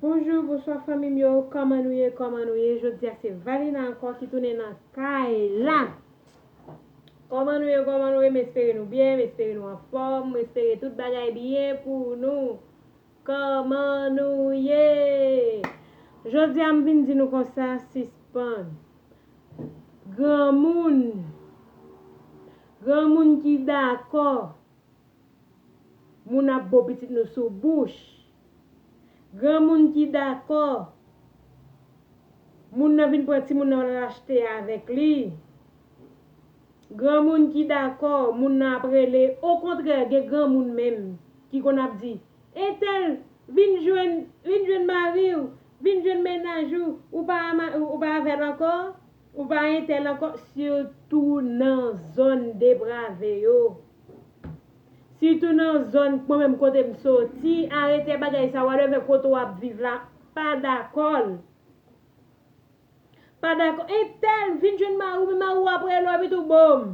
Bonjou bonswa fanmim yo kòman nou ye kòman nou ye jodia se valina ankò ki tounen nan kay la kòman nou ye kòman nou ye m espere nou byen m espere nou anfòm m espere tout bagay byen pou nou kòman nou ye jodia m vin di nou konsa sispann granmoun granmoun ki dakò Moun ap bo pitit nou sou bouch. Granmoun ki dakò. Moun nan vin pran timoun nan al achte avèk li. Granmoun ki dakò, moun nan ap rele. Okontrè, gen granmoun menm ki konn ap di, Entèl, vin jwenn mari ou, vin jwenn mennaj ou, ou pa avè l ankò? Ou pa entèl ankò sitou nan zòn deprave yo. Sitou nan zòn mwen menm kote m soti arete bagay sa wa leve kote w ap viv la pa dakò l. Pa dakò entèl vin jwenn mari w men mari w ap rele w epi tou boom,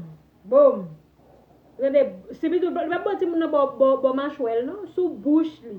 boom. Tande se pi tou li pap ban timoun nan bò machwè l non sou bouch li.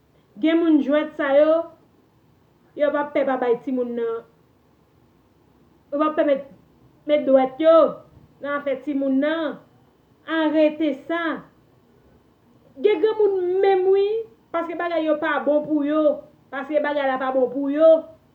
Gen moun jwèt sa yo yo pa pè pa bay timoun nan yo pa pè met met dwèt yo nan afè timoun nan arete sa gen granmoun menm wi paske bagay yo pa bon pou yo paske bagay la pa bon pou yo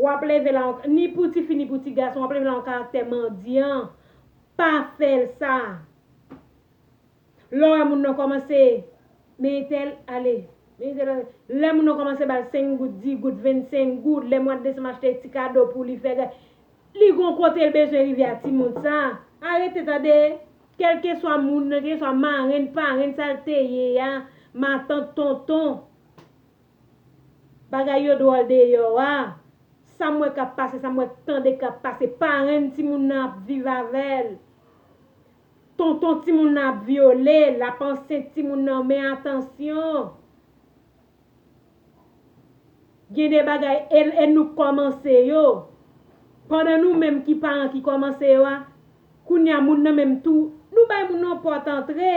W ap leve la yon, ni pou tifi ni pou tigason, w ap leve la yon karaktè mandyan. Pa fè l sa. Lè w wè moun nan kòmanse, men entèl, ale, men entèl ale. Lè moun nan kòmanse ba l senk goud, di goud, vennsenk goud, lè mwa desanm achte ti kado pou li, fè gad. Li gon kote l bezwen rive a timoun sa. Arete tande! Kèlkeswa moun nan, kèlkeswa marenn, parenn sa l te ye a, matant, tonton. Bagay yo dwòl deyò a. Sa m wè k ap pase, sa m wè k tande k ap pase, parenn timoun nan ap viv avè l, tonton timoun nan ap vyole l, l ap ansent timoun nan men atansyon. Gen de bagay e nou k kòmanse yo. Pandan nou menm ki paran ki kòmanse yo a, kounye a moun nan menm tou, nou bay moun nan pòt antre.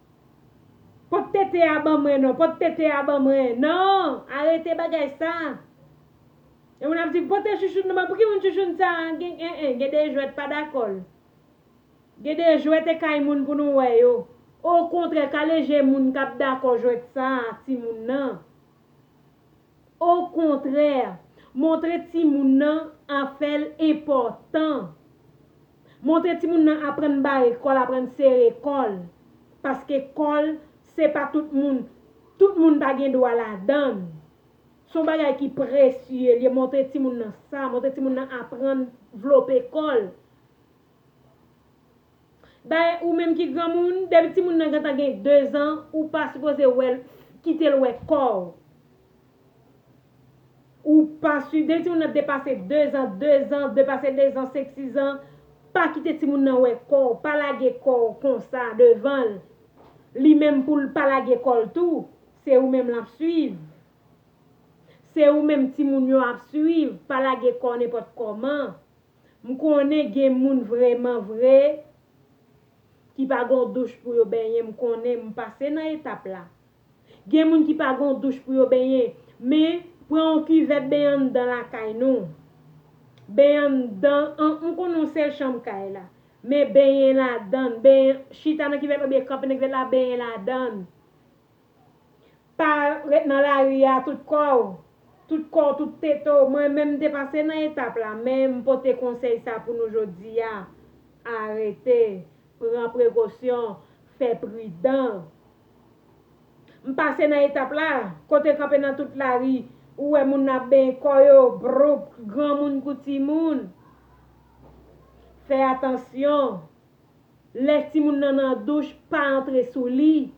Pot tete a ban mwen non, pot tete a ban mwen non, arete bagay sa. Yon moun ap di pote chouchoun nan ban mwen, pou ki moun chouchoun sa, gen en en, gen de jwèt pa dakò l. Gen de jwèt e kay moun pou nou wè yo. Okontrè kale je moun kap dakò jwèt sa a timoun nan. Okontrè, montre timoun nan afè l enpòtan. Montre timoun nan aprann bare kò l, aprann sere kò l. Paske kò l, se pa tout moun, tout moun pa gen dwa ladan l. Se yon bagay ki presye l ye, montre timoun nan sa, montre timoun nan aprann vlope kò l. Dayè ou menm ki granmoun, depi timoun nan gentan gen 2 zan, ou pa sipoze wè l, kite l wè kò w. Ou pa si, depi timoun nan depase 2 zan, 2 zan, depase 2 zan, 5, 6 zan, pa kite timoun nan wè kò w, pa lage kò w konsa devan l. Li menm pou l pa lage kò l tou, se ou menm l ap suiv. Se ou menm timoun yo ap suiv, pa lage kò nenpòt kòman. M konnen gen moun vreman vre ki pa gon douch pou yo benyen m konnen m pase nan etap la. Gen moun ki pa gon douch pou yo benyen men pran yon kivèt benyen anndan lakay nou. Benyen anndan an m konnen yon sèl chanm kay la men benyen ladan l benyen chita nan kivèt la oubyen kanpe nan kivèt la benyen ladan l. Pa ret nan lari a tout kò w, tout kò w, tout tete w. Mwen menm m te pase nan etap la men m pote konsèy sa pou nou jodi a, arete, pran prekosyon, fè pridan. M pase nan etap la, kote kanpe nan tout lari, ou wè moun ap benyen kò yo, broupp, granmoun kou timoun. Fè atansyon. Lè timoun nan nan douch, pa antre sou li.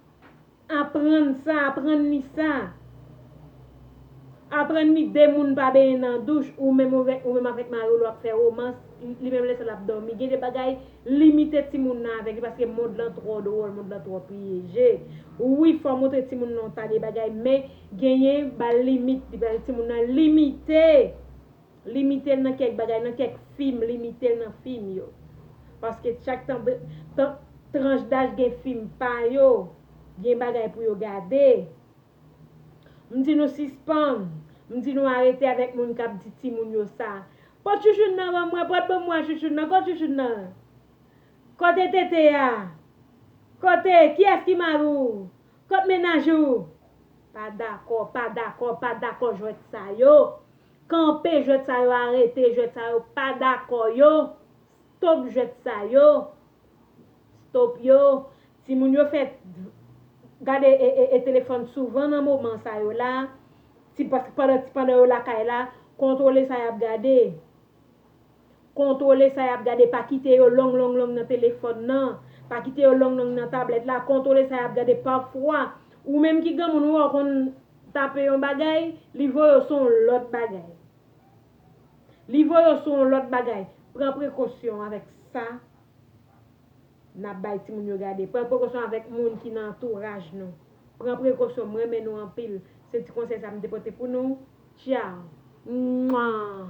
Aprann sa, aprann li sa. Aprann li 2 moun pa benyen nan douch, ou menm ou menm avèk mari w lè w ap fè romans, li menm lè sa l ap dòmi. Gen de bagay, limite timoun nan avèk li paske mond lan twò dwòl, mond lan twò pyeje. Wi, fò w montre timoun nan w ta de bagay men genyen ba l limit li pral timoun nan limite. Limite l nan kèk bagay nan kèk fim limite l nan fim yo paske chak tranch daj gen fim pa yo gen bagay pou yo gade m di nou sispann m di nou arete avèk moun kap di timoun yo sa pot chouchoun nan ban mwen pot banm wè chouchoun nan kot chouchoun nan kote tete a kote kiyès ki mari w kot mennaj ou pa dakò pa dakò pa dakò jwèt sa yo Kanpe jwet sa yo arete jwet sa yo pa dako yo stop jwet sa yo stop yo ti moun yo fè gade e telefon souvan nan moman sa yo la ti paske pandan yo lakay la kontrole sa yap gade. Kontwole sa y ap gade, pa kite yo long long long nan telefòn nan, pa kite yo long long nan tablèt la, kontwole sa y ap gade pafwa ou menm ki granmoun ou wè w konn tape yon bagay, li voye w sou yon lòt bagay. Li voye w sou yon lòt bagay. Pran prekosyon avèk sa n ap bay timoun yo gade. Pran prekosyon avèk moun ki nan antouraj nou. Pran prekosyon. M renmen nou anpil. Se ti konsèy sa m te pote pou nou. Tchao! Mwaa!